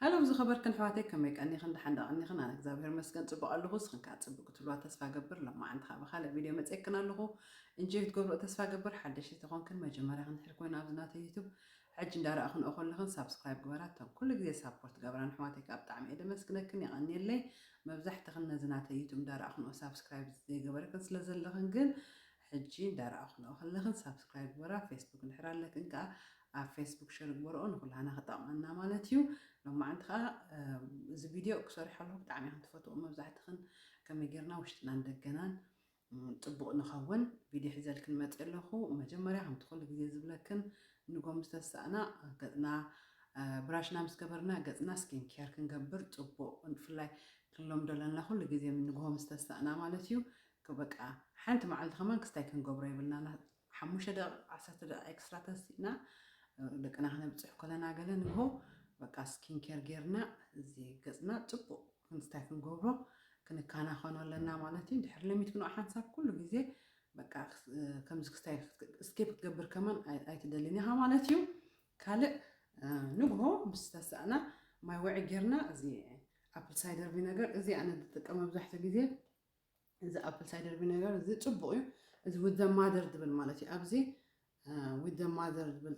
ሃሎው ዝኸበርክን ኣሕዋተይ ከመይ ቀኒኽን ደሓን ዶ ቀኒኽን ኣነ እግዛብሄር ይመስገን ጽቡቅ ኣለኹ እስኽን ከኣ ጽቡቅ ክትህልዋ ተስፋ እገብር ሎማዓንቲ ከኣ ብኻልእ ቪድዮ መጼክን ኣለኹ እንጆይ ክትገብርኦ ተስፋ እገብር ሓደሽቲ ተኾንክን መጀመርያኽን ድሕሪ ኮይኑ ኣብዚ ናተይ ዩቱብ ሕጂ እንዳ ረኣኽንኦ ከለኽን ሳብስክራይብ ግበራ እተን ኩሉ ግዜ ሳፖርት ትገብራን ኣሕዋተይ ከኣ ብጣዕሚ እየ ደመስግነክን የቀንየለይ መብዛሕትኽን ነዚ ናተይ ዩቱብ እንዳ ረኣኽንኦ ሳብስክራይብ ዘይገበርክን ስለ ዘለኽን ግን ሕጂ እንዳ ረኣኽንኦ ከለኽን ሳብስክራይብ ግበራ ፌስቡክ እንድሕር ኣለክን ከኣ ኣብ ፌስቡክ ሸር ግበርኦ ንኩላህና ክጠቅመና ማለት እዩ ሎማዓንቲ ከዓ እዚ ቪድዮ ክሰርሖ ኣለኩ ብጣዕሚ ኢክን ትፈትዎ መብዛሕትክን ከመይ ጌርና ውሽጥናን ደገናን ጥቡቅ ንኸውን ቪድዮ ሒዘልክን መፅ ኣለኩ መጀመርያ ከምቲ ኩሉ ግዜ ዝብለክን ንጎምዝ ተሳእና ገፅና ብራሽና ምስ ገበርና ገፅና ስኪን ኬር ክንገብር ፅቡቅ ብፍላይ ክንሎም ደለና ኩሉ ግዜ ንግሆ ምስ ተሳእና ማለት እዩ በቃ ሓንቲ መዓልቲ ከማን ክስታይ ክንገብሮ የብልና ሓሙሽተ ደቂቅ ዓሰርተ ደቂቅ ኤክስትራ ተሲእና ደቅና ክነብጽሕ ኮለና ገለ ንግሆ በቃ ስኪን ኬር ጌርና እዚ ገጽና ጽቡቅ ክንስታይ ክንገብሮ ክንካናኸኖ ኣለና ማለት እዩ ድሕር ለሚት ግን ሓንሳብ ኩሉ ግዜ በቃ ከምዚ ክስታይ ስኬፕ ክትገብር ከማን ኣይትደልን ኢኻ ማለት እዩ ካልእ ንግሆ ምስ ተሳእና ማይ ወዒ ጌርና እዚ ኣፕል ሳይደር ቪነገር እዚ ኣነ ዝጥቀም መብዛሕትኡ ግዜ እዚ ኣፕል ሳይደር ቪነጋር እዚ ፅቡቕ እዩ እዚ ዊት ዘ ማዘር ዝብል ማለት እዩ ኣብዚ ዊት ዘ ማዘር ዝብል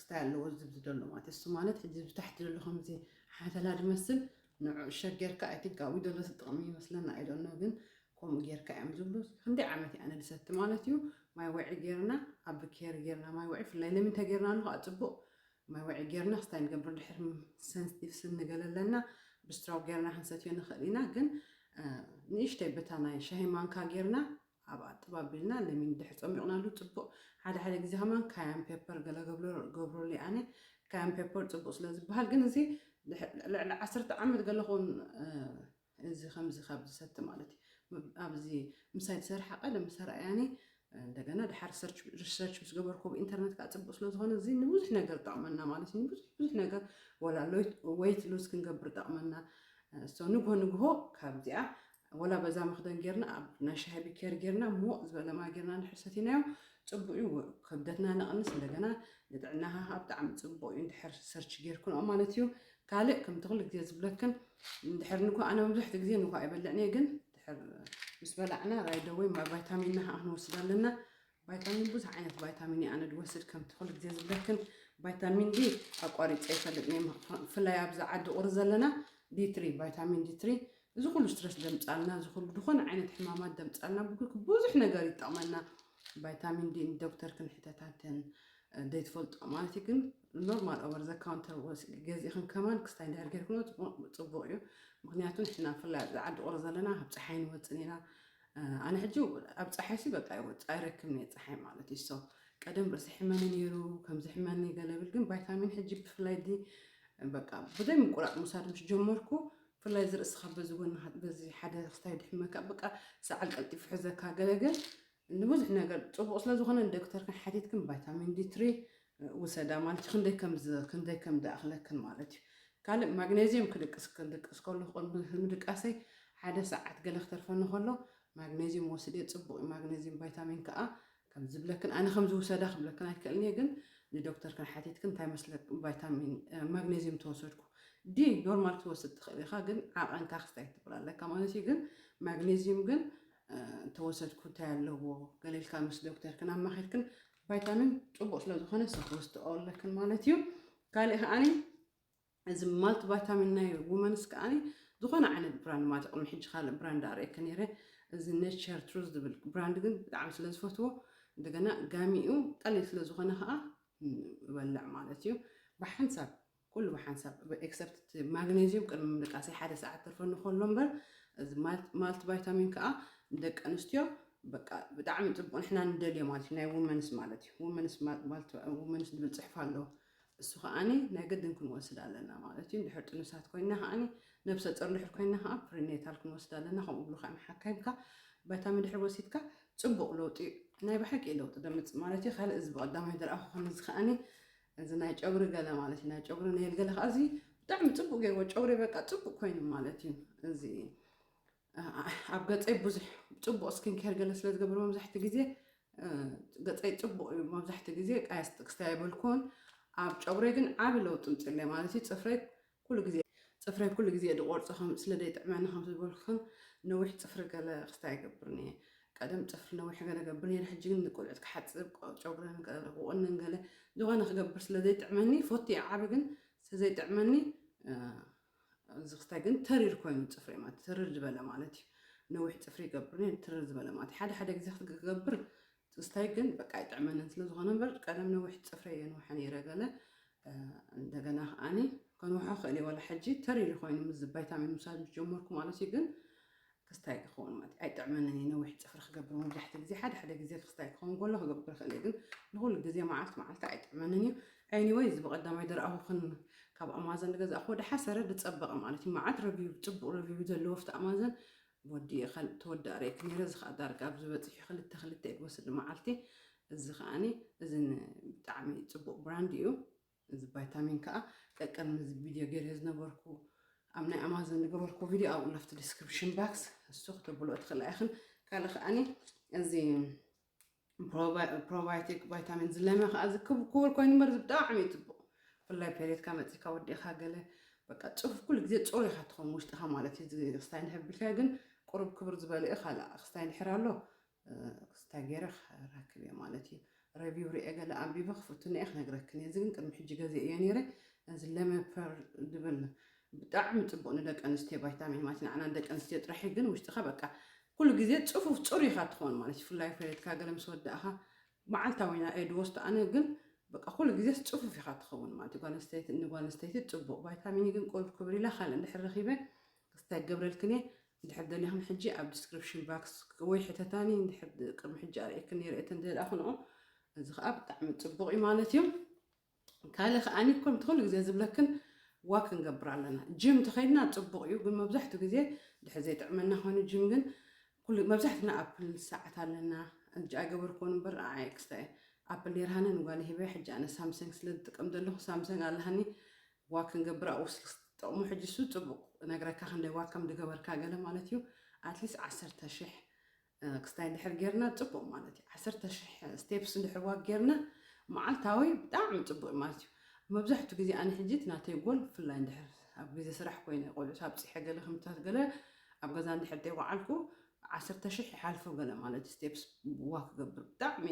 ስታይ ኣለዎ ዝብዚ ዘሎ ማለት እሱ ማለት ሕዚ ብታሕቲ ዘሎ ከምዚ ሓተላ ዝመስል ንዑ ሸግ ጌርካ ኣይ ቲንክ ኣብኡ ዘሎ ዝጥቕሚ ይመስለና ኣይደኖ ግን ከምኡ ጌርካ እዮም ዝብሉ ክንደይ ዓመት እያ ንድሰቲ ማለት እዩ ማይ ወዒ ጌርና ኣብ ኬር ጌርና ማይ ወዒ ፍላይ ለሚን ተጌርና ኣለኹ ኣፅቡቕ ማይ ወዕይ ጌርናስ ታይ ንገብር ድሕሪ ሰንስቲቭ ስብ ንገለ ኣለና ብስትራው ጌርና ክንሰትዮ ንክእል ኢና ግን ንእሽተይ በታ ናይ ሻሂ ማንካ ጌርና ኣብኣ ጥብ ኣቢልና ለሚን ድሕሪ ጸሚቅናሉ ጽቡቅ ሓደ ሓደ ግዜ ከማን ካያን ፔፐር ገለ ገብረሉ እየ ኣነ ካያን ፔፐር ጽቡቅ ስለ ዝብሃል ግን እዚ ልዕሊ ዓሰርተ ዓመት ገለ ክውን እዚ ከምዚ ካብ ዝሰቲ ማለት እዩ ኣብዚ ምሳይ ዝሰርሓ ቀደም ዝተረኣያኒ እንደገና ድሓር ሪሰርች ምስ ገበርኩ ኣብ ኢንተርነት ከዓ ፅቡቅ ስለዝኾነ እዚ ንብዙሕ ነገር ጠቕመና ማለት እዩ ንብዙሕ ብዙሕ ነገር ወላ ወይት ሉዝ ክንገብር ጠቕመና እሶ ንግሆ ንግሆ ካብዚኣ ወላ በዛ መኽደን ጌርና ኣብ ናይ ሻሂ ቢኬር ጌርና ሞቅ ዝበለ ማይ ጌርና እንድሕር ሰቲናዮ ፅቡቅ እዩ ክብደትና ነቕንስ እንደገና ንጥዕናኻ ብጣዕሚ ፅቡቅ እዩ እንድሕር ሰርች ጌርክንኦ ማለት እዩ ካልእ ከምቲ ኩሉ ግዜ ዝብለክን ድሕር ንኳ ኣነ መብዛሕትኡ ግዜ ንኳ ኣይበልዕን እየ ግን ድሕር ምስ በላዕና ራይዶ ወይ ቫይታሚንና ከዓ ክንወስድ ኣለና ቫይታሚን ብዙሕ ዓይነት ቫይታሚን እየ ኣነ ድወስድ ከምቲ ኩሉ ግዜ ዝብለክን ቫይታሚን ዲ ኣቋሪፀ ይፈልጥ ነይ ብፍላይ ኣብዚ ዓዲ ቁሪ ዘለና ዲትሪ ቫይታሚን ዲትሪ እዚ ኩሉ ስትረስ ደምፃልና እዚ ኩሉ ዝኾነ ዓይነት ሕማማት ደምፃልና ብኩልክ ብዙሕ ነገር ይጠቕመና ቫይታሚን ዲ ዶክተር ክንሕተታትን ዘይትፈልጦ ማለት እዩ ግን ኖርማል ኦቨር ዘ ካውንተር ወስ ገዚእኽን ከማን ክስታይ እንድሕር ጌርክኖ ፅቡቕ እዩ ምክንያቱ ንሕና ብፍላይ ኣብዚ ዓዲ ቁሪ ዘለና ኣብ ፀሓይ ንወፅን ኢና ኣነ ሕጂ ኣብ ፀሓይ ሲ በቃ ይወፅ ኣይረክብን እየ ፀሓይ ማለት እዩ ሶ ቀደም ርእሲ ሕመኒ ነይሩ ከምዚ ሕመኒ ገለብል ግን ቫይታሚን ሕጂ ብፍላይ ዲ በቃ ብዘይ ምቁራፅ ምውሳድ ምስ ጀመርኩ ብፍላይ እዚ ርእስኻ በዚ ጎኒ በዚ ሓደ ክስታይ ድሕመካ በቃ ሰዓል ቀልጢፉ ሕዘካ ገለገል ንብዙሕ ነገር ጽቡቅ ስለ ዝኮነ ንደክተርክን ሓቲትክን ቫይታሚን ዲ ትሪ ውሰዳ ማለት እዩ ክንደይ ከም ክንደይ ከም ድኣክለክን ማለት እዩ ካልእ ማግነዚየም ክድቅስ ክድቅስ ከሉ ምድቃሰይ ሓደ ሰዓት ገለ ክተርፈኒ ከሎ ማግነዚየም ወስድ እየ ጽቡቅ እዩ ማግነዚየም ቫይታሚን ከኣ ከም ዝብለክን ኣነ ከም ዝውሰዳ ክብለክን ኣይክእልን እየ ግን ንዶክተርክን ሓቲትክን እንታይ መስለ ቫይታሚን ማግነዚየም ተወሰድኩ ዲ ኖርማል ትወስድ ትኽእል ኢኻ ግን ዓቐንካ ክስታይ ትብል ኣለካ ማለት እዩ ግን ማግነዚየም ግን እንተወሰድኩ እንታይ ኣለዎ ገለ ኢልካ ምስ ዶክተርክን ኣማኺርክን ቫይታሚን ፅቡቅ ስለዝኾነ ሰክወስድኦ ኣለክን ማለት እዩ ካልእ ከዓኒ እዚ ማልቲ ቫይታሚን ናይ ውመንስ ከዓኒ ዝኾነ ዓይነት ብራንድ ማለት ቅድሚ ሕጂ ካልእ ብራንድ ኣርእየክ ነይረ እዚ ኔቸር ትሩዝ ዝብል ብራንድ ግን ብጣዕሚ ስለ ዝፈትዎ እንደገና ጋሚኡ ቀሊል ስለ ዝኾነ ከዓ እበልዕ ማለት እዩ ብሓንሳብ ኩሉ ብሓንሳብ ኤክሰፕት እቲ ማግነዝዩም ቅድሚ ምድቃሰይ ሓደ ሰዓት ተርፈኒ ከሎ እምበር እዚ ማልት ቫይታሚን ከዓ ንደቂ ኣንስትዮ በቃ ብጣዕሚ ፅቡቅ ንሕና ንደልዮ ማለት እዩ ናይ ውመንስ ማለት እዩ ውመንስ ውመንስ ዝብል ፅሕፍ ኣሎ እሱ ከዓኒ ናይ ግድን ክንወስድ ኣለና ማለት እዩ እንድሕር ጥኑሳት ኮይና ከዓኒ ነብሰ ፆር እንድሕር ኮይና ከዓ ፕሪኔታል ክንወስድ ኣለና ከምኡ ብሉ ከዓ ሓካይምካ ቫይታሚን ድሕር ወሲድካ ፅቡቅ ለውጢ ናይ ብሓቂ ለውጢ ደምፅ ማለት እዩ ካልእ እዚ ብቀዳማይ ዝረኣኹ ከምዚ ከዓኒ እዚ ናይ ጨጉሪ ገለ ማለት እዩ ናይ ጨጉሪ ነይል ገለ ከዓ እዚ ብጣዕሚ ፅቡቅ ገይርዎ ጨጉሪ በቃ ፅቡቅ ኮይኑ ማለት እዩ እዚ ኣብ ገፀይ ብዙሕ ፅቡቅ ስኪን ኬር ገለ ስለ ዝገብር መብዛሕትኡ ግዜ ገፀይ ፅቡቅ እዩ መብዛሕትኡ ግዜ ቀያስ ጥቅስታ የበልኩን ኣብ ጨጉረይ ግን ዓብ ለውጢ ምፅለ ማለት እዩ ፅፍረይ ኩሉ ግዜ ጽፍረይ ኩሉ ግዜ ድቆርጾ ከም ስለ ደይጥዕመኒ ከም ዝበልኩክን ነዊሕ ጽፍሪ ገለ ክስታይ ኣይገብርን እየ ቀደም ጽፍሪ ነዊሕ ገለ ገብር ነይረ ሕጂ ግን ንቆልዑት ክሓጽብ ጨጉረን ክቁንን ገለ ዝኮነ ክገብር ስለ ዘይጥዕመኒ ፎቲ እየ ዓቢ ግን ስለ ዘይጥዕመኒ እዚ ክስታይ ግን ተሪር ኮይኑ ጽፍሪ ማለት ተሪር ዝበለ ማለት እዩ ነዊሕ ጽፍሪ ይገብር ነይረ ተሪር ዝበለ ማለት ሓደ ሓደ ግዜ ክትገብር ትዝታይ ግን በቃ ኣይጥዕመንን ስለዝኾነ እምበር ቀደም ነዊሕ ፅፍረይ የንውሐ ነይረ ገለ እንደገና ከዓኒ ከንውሖ ክእል እየ ዋላ ሕጂ ተር ኢሉ ኮይኑ ምስ ቫይታሚን ምውሳድ ምስ ጀመርኩ ማለት እዩ ግን ክስታይ ክኸውን ማለት ኣይጥዕመንን እዩ ነዊሕ ፅፍሪ ክገብር መብዛሕትኡ ግዜ ሓደ ሓደ ግዜ ክስታይ ክኸውን ከሎ ክገብር ክእል ግን ንኩሉ ግዜ መዓልቲ መዓልቲ ኣይጥዕመንን እዩ ኤኒወይ እዚ ብቀዳማይ ድረኣኹክን ካብ ኣማዘን ዝገዛእኹዎ ድሓሰረ ዝፀበቐ ማለት እዩ መዓት ረቪው ፅቡቅ ረቪው ዘለዎ ፍቲ ኣማዘን ወዲኤ ካልእ ተወዳእ ርኤኪ ነይረ እዚ ከኣ ዳርጋ ኣብዚ በጺሑ ክልተ ክልተ እዩ ክወስድ ንመዓልቲ እዚ ከኣኒ እዚ ን ብጣዕሚ ጽቡቅ ብራንድ እዩ እዚ ባይታሚን ከኣ ቀቅድሚ እዚ ቪድዮ ገይረዮ ዝነበርኩ ኣብ ናይ ኣማዞን ዝገበርኩ ቪድዮ ኣብኡ ለፍቲ ዲስክሪፕሽን ባክስ እሱ ክተብልኦ ትኽእላ ኢኽን ካልእ ከኣኒ እዚ ፕሮባዮቲክ ቫይታሚን ዝለመ ከዓ እዚ ክቡር ኮይኑ እምበር እዚ ብጣዕሚ እዩ ፅቡቅ ብፍላይ ፔሬትካ መፂካ ወዲእካ ገለ በቃ ፅፉፍ ኩሉ ግዜ ፅሩይ ኢካ ትኸውን ውሽጥካ ማለት እዩ እዚ ክስታይ እንድሕር ቢልካዮ ግን ቁሩብ ክብር ዝበለ እዩ ካልእ ክስታይ እንድሕር ኣሎ ክስታይ ገይረ ክረክብ እየ ማለት እዩ ረቪው ርኤ ገለ ኣንቢበ ክፍትነ እየ ክነግረክን እየ እዚ ግን ቅድሚ ሕጂ ገዜ እየ ነይረ እዚ ለመፐር ድብል ብጣዕሚ ፅቡቅ ንደቂ ኣንስትዮ ቫይታሚን ማለት ንዓና ንደቂ ኣንስትዮ ጥራሕ እዩ ግን ውሽጥካ በቃ ኩሉ ግዜ ጽፉፍ ጽሩይ ኢኻ ትኾን ማለት እዩ ፍላይ ፈሬትካ ገለ ምስ ወዳእኻ መዓልታዊ ኢና ኤድ ወስዶ ኣነ ግን በቃ ኩሉ ግዜስ ጽፉፍ ኢኻ ትኸውን ማለት እዩ ጓል ኣንስተይቲ ንጓል ኣንስተይቲ ጽቡቕ ቫይታሚን ግን ቁሩብ ክብሪ ኢላ ካልእ እንድሕር ረኺበ ክስታይ ገብረልክን እየ እንድሕር ደሊኽን ሕጂ ኣብ ዲስክሪፕሽን ባክስ ወይ ሕተታኒ እንድሕር ቅድሚ ሕጂ ኣርእየክን ነይረ እተን ደልኣኽንኦ እዚ ከዓ ብጣዕሚ ጽቡቕ እዩ ማለት እዩ ካልእ ከኣኒ ከምቲ ኩሉ ግዜ ዝብለክን ዋክ ክንገብር ኣለና ጅም እንተኸይድና ጽቡቕ እዩ ግን መብዛሕቱ ግዜ ድሕሪ ዘይጥዕመና ኮይኑ ጅም ግን ኩሉ መብዛሕትና ኣፕል ሰዓት ኣለና እጅ ኣይገበርኩን እምበር ኣይ ክስታይ ኣፕል ኔርሃኒ ንጓል ሂበ ሕጂ ኣነ ሳምሰንግ ስለ ዝጥቀም ዘለኹ ሳምሰንግ ኣለሃኒ ዋክ ክንገብር ኣብኡ ስልክ ጥቕሙ ሕጂ እሱ ጽቡቕ ነግረካ ክንደይ ዋክ ከም ዝገበርካ ገለ ማለት እዩ ኣትሊስት ዓሰርተ ሽሕ ክስታይ እንድሕር ጌርና ጽቡቅ ማለት እዩ ዓሰርተ ሽሕ ስቴፕስ እንድሕር ዋክ ጌርና መዓልታዊ ብጣዕሚ ጽቡቅ ማለት እዩ መብዛሕቱ ግዜ ኣነ ሕጂ እቲ ናተይ ጎል ብፍላይ እንድሕር ኣብ ግዜ ስራሕ ኮይነ ቆልዑት ኣብጺሐ ገለ ክምታት ገለ ኣብ ገዛ እንድሕር ዘይወዓልኩ ዓሰርተ ሽሕ ይሓልፎ ገለ ማለት እዩ ስቴፕስ ዋክ ክገብር ብጣዕሚ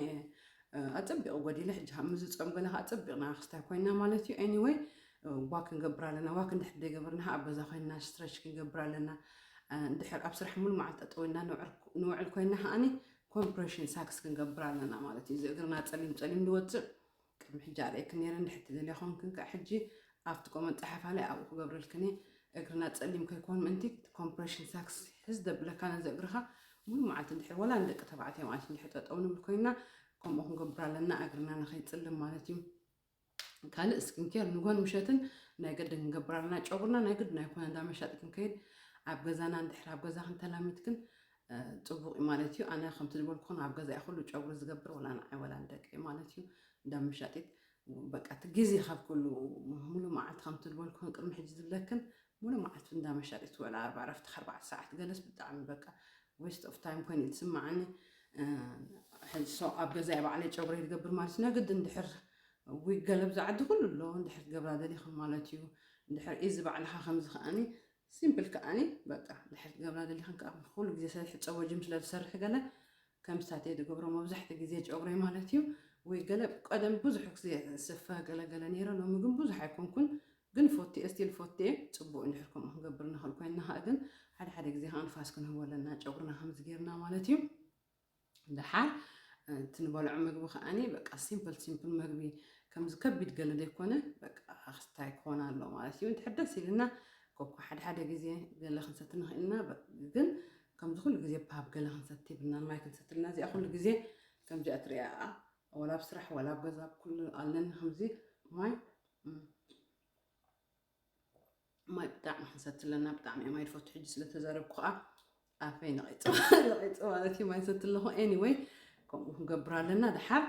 ኣጸቢቑ ጎዲለ ሕጂ ካብ ምዝጾም ገለ ከዓ ኣጸቢቕና ክስታይ ኮይና ማለት እዩ ኤኒወይ ዋክ ክንገብር ኣለና ዋክ እንድሕር ዘይገበርና ከዓ ኣብ ገዛ ኮይንና ስትረች ክንገብር ኣለና እንድሕር ኣብ ስራሕ ሙሉ መዓልቲ ጠጠው ኢልና ንውዕል ኮይና ከዓኒ ኮምፕሬሽን ሳክስ ክንገብር ኣለና ማለት እዩ እዚ እግርና ፀሊም ፀሊም ዝወፅእ ቅድሚ ሕጂ ኣርእየክን ነረ እንድሕር ትደልያ ኮንክን ከዓ ሕጂ ኣብቲ ቆመን ፀሓፋ ላይ ኣብኡ ክገብረልክን እየ እግርና ፀሊም ከይኮን ምእንቲ ኮምፕሬሽን ሳክስ ሕዝ ደብለካ ነዚ እግርኻ ሙሉ መዓልቲ እንድሕር ወላ ንደቂ ተባዕትዮ ማለት እንድሕር ጠጠው ንብል ኮይና ከምኡ ክንገብር ኣለና እግርና ንከይፅልም ማለት እዩ ካልእ ስኪንኬር ንጎን ምሸትን ናይ ግድን ክንገብር ኣለና ጨጉርና ናይ ግድን ኣይኮነ እንዳ መሻጢ ክንከይድ ኣብ ገዛና እንድሕር ኣብ ገዛ ክንተላሚትክን ፅቡቅ እዩ ማለት እዩ ኣነ ከምቲ ዝበልኩን ኣብ ገዛ እዩ ኩሉ ጨጉሪ ዝገብር ወላ ንዓይ ወላ ንደቂ እዩ ማለት እዩ እንዳ መሻጢት በቃ እቲ ግዜ ካብ ኩሉ ሙሉ መዓልቲ ከምቲ ዝበልኩን ቅድሚ ሕጂ ዝብለክን ሙሉ መዓልቲ እንዳ መሻጢት ወላ ኣርባ ዕረፍቲ ኣርባዕተ ሰዓት ገለስ ብጣዕሚ በቃ ዌስት ኦፍ ታይም ኮይኑ እዩ ዝስማዓኒ ሕዚ ሶ ኣብ ገዛይ ባዕለይ ጨጉረይ ዝገብር ማለት እዩ ነግዲ እንድሕር ዊግ ገለ ብዛ ዓዲ ኩሉ ኣሎ እንድሕር ትገብራ ደሊኹም ማለት እዩ እንድሕር እዚ ባዕልኻ ከምዚ ከዓኒ ሲምፕል ከዓኒ በቃ እንድሕር ትገብራ ደሊኽን ከዓ ኩሉ ግዜ ስለ ሕፀቦ ጅም ስለ ዝሰርሕ ገለ ከምስታት እየ ዝገብሮ መብዛሕትኡ ግዜ ጨጉረይ ማለት እዩ ወይ ገለ ቀደም ብዙሕ ግዜ ስፈ ገለገለ ነይረ ሎሚ ግን ብዙሕ ኣይኮንኩን ግን ፎቴ እስቲል ፎቴ ጽቡቅ እንድሕር ከምኡ ክንገብር ንክእል ኮይንና ከኣ ግን ሓደ ሓደ ግዜ ከኣ ንፋስ ክንህቦ ኣለና ጨጉርና ከምዚ ጌርና ማለት እዩ ደሓር እቲ ንበልዖ ምግቢ ከኣኒ በቃ ሲምፕል ሲምፕል ምግቢ ከምዚ ከቢድ ገለ ዘይኮነ በቃ ክስታይ ክኾን ኣሎ ማለት እዩ እንድሕር ደስ ኢልና ኮኳ ሓደ ሓደ ግዜ ገለ ክንሰቲ ንኽእል ኢና ግን ከምዚ ኩሉ ግዜ ፓብ ገለ ክንሰቲ ብና ማይ ክንሰቲ ኣለና እዚኣ ኩሉ ግዜ ከምዚኣ ትሪኣ ወላ ኣብ ስራሕ ወላ ኣብ ገዛ ኩሉ ኣለኒ ከምዚ ማይ ማይ ብጣዕሚ ክንሰቲ ኣለና ብጣዕሚ እየ ማይ ድፈቱ ሕጂ ስለተዛረብኩ ከዓ ኣፈይ ነቂፅ ነቂፅ ማለት እዩ ማይ ሰቲ ኣለኹ ኤኒወይ ከምኡ ክንገብር ኣለና ድሓር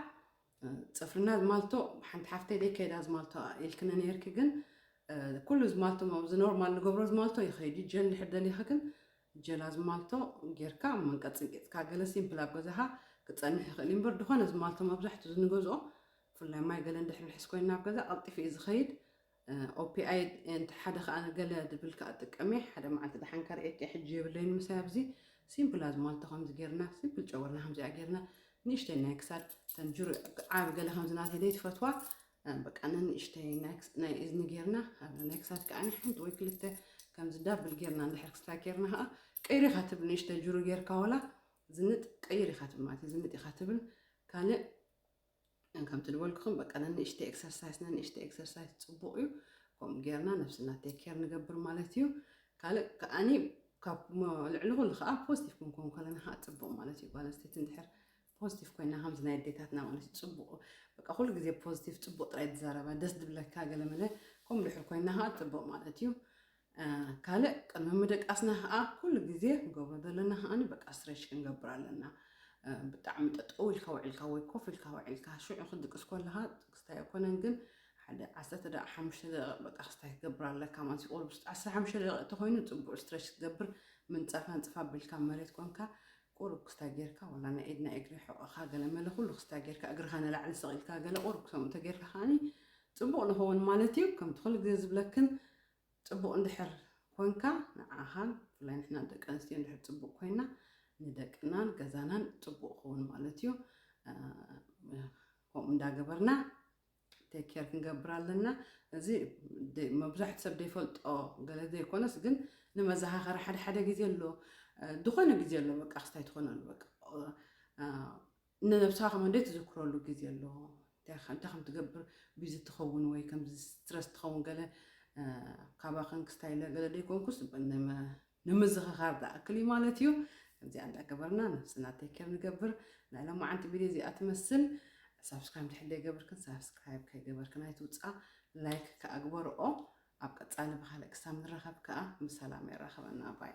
ፅፍርና ዝማልቶ ሓንቲ ሓፍተይ ደይ ከይዳ ዝማልቶ ኢልክኒ ነርኪ ግን ኩሉ ዝማልቶ ኣብዚ ኖርማል ንገብሮ ዝማልቶ ይኸይድ እዩ ጀል ድሕር ደሊኺ ግን ጀላ ዝማልቶ ጌርካ መንቀፅንቂፅካ ገለ ሲምፕል ኣብ ገዛኻ ክፀንሕ ይኽእል እዩ እምበር ድኾነ ዝማልቶ መብዛሕትኡ ዝንገዝኦ ብፍላይ ማይ ገለ እንድሕር ንሕዝ ኮይና ኣብ ገዛ ቀልጢፉ እዩ ዝኸይድ ኦፒኣይድ እንተ ሓደ ከኣ ገለ ድብል ከኣ ጥቀም እየ ሓደ መዓልቲ ደሓን ከርእየኪ ሕጂ የብለይን ምሳይ ኣብዚ ሲምፕል ኣዝማልቶ ከምዚ ጌርና ሲምፕል ጨወርና ከምዚኣ ጌርና ንእሽተይ ናይ ክሳድ ተንጅሩ ዓብ ገለ ከምዚ ናተይ ዘይትፈትዋ በቃ ንንእሽተይ ናይ እዝኒ ጌርና ናይ ክሳድ ከዓ ሓንቲ ወይ ክልተ ከምዚ ዳብል ጌርና እንድሕር ክስታ ጌርና ከዓ ቀይሪ ኢኻ ትብል ንእሽተ ጅሩ ጌርካ ወላ ዝንጥ ቀይር ኢኻ ትብል ማለት እዩ ዝንጥ ኢኻ ትብል ካልእ ከምቲ ዝበልኩኹም በቃ ነንእሽተይ ኤክሰርሳይስ ነንእሽተይ ኤክሰርሳይስ ፅቡቕ እዩ ከምኡ ጌርና ነብስና ቴክ ኬር ንገብር ማለት እዩ ካልእ ከዓኒ ካብ ልዕሊ ኩሉ ከዓ ፖዚቲቭ ክንከውን ከለና ከዓ ፅቡቕ ማለት እዩ ጓል ኣንስተይቲ እንድሕር ፖዚቲቭ ኮይና ከምዚ ናይ ኣዴታትና ማለት እዩ ፅቡቕ በቃ ኩሉ ግዜ ፖዚቲቭ ፅቡቕ ጥራይ ትዛረባ ደስ ዝብለካ ገለመለ ከምኡ ድሕር ኮይና ከዓ ፅቡቕ ማለት እዩ ካልእ ቅድሚ ምድቃስና ከኣ ኩሉ ግዜ ክንገብሮ ዘለና ከኣ በቃ ስትሬች ክንገብር ኣለና። ብጣዕሚ ጠጠው ኢልካ ውዒልካ ወይ ኮፍ ኢልካ ውዒልካ ሽዑ ክትድቅስ ኮለኻ ጥቅስታይ ኣይኮነን ግን ሓደ ዓሰርተ ደቂቃ ሓሙሽተ ደቂቅ በቃ ክስታይ ክትገብር ኣለካ ማለት እዩ ኦልሞስት ዓሰርተ ሓሙሽተ ደቂቅ እንተኮይኑ ፅቡቅ ስትሬች ክትገብር ምንፃፍ ኣንፅፍ ኣቢልካ መሬት ኮንካ ቁሩብ ክስታይ ጌርካ ዋላ ናይ ኢድ ናይ እግሪ ሕቆኻ ገለ መለ ኩሉ ክስታይ ጌርካ እግርኻ ንላዕሊ ሰቂልካ ገለ ቁሩብ ክሰምኡ ተጌርካ ከዓኒ ፅቡቅ ንኸውን ማለት እዩ ከምቲ ኩሉ ግዜ ዝብለክን ጽቡቅ እንድሕር ኮንካ ንዓኻን ብፍላይ ንሕና ደቂ ኣንስትዮ እንድሕር ጽቡቅ ኮይና ንደቅናን ገዛናን ጽቡቅ ክኸውን ማለት እዩ ከምኡ እንዳገበርና ቴክ ኬር ክንገብር ኣለና እዚ መብዛሕቲ ሰብ ዘይፈልጦ ገለ ዘይኮነስ ግን ንመዘኻኸሪ ሓደ ሓደ ግዜ ኣሎ ዝኾነ ግዜ ኣሎ በቃ ክስታይ ትኾነ ኣሎ በቃ ንነብስኻ ከም ኣደ ትዝክረሉ ግዜ ኣሎ እንታይ እንታይ ከም ትገብር ቢዚ ትኸውን ወይ ከምዚ ስትረስ ትኸውን ገለ ካባኽን ክስታይ ኢለ ገለ ደይኮንኩስ ንምዝኽኻር ዝኣክል እዩ ማለት እዩ ከምዚኣ እንዳገበርና ነብስና ቴክር ንገብር ናይ ሎማዓንቲ ቪድዮ እዚኣ ትመስል ሳብስክራይብ ድሕር ዘይገብርክን ሳብስክራይብ ከይገበርክን ኣይትውፃ ላይክ ከዓ ግበርኦ ኣብ ቀፃሊ ብካልእ ክሳብ ንራኸብ ከዓ ብሰላም የራኸበና ባይ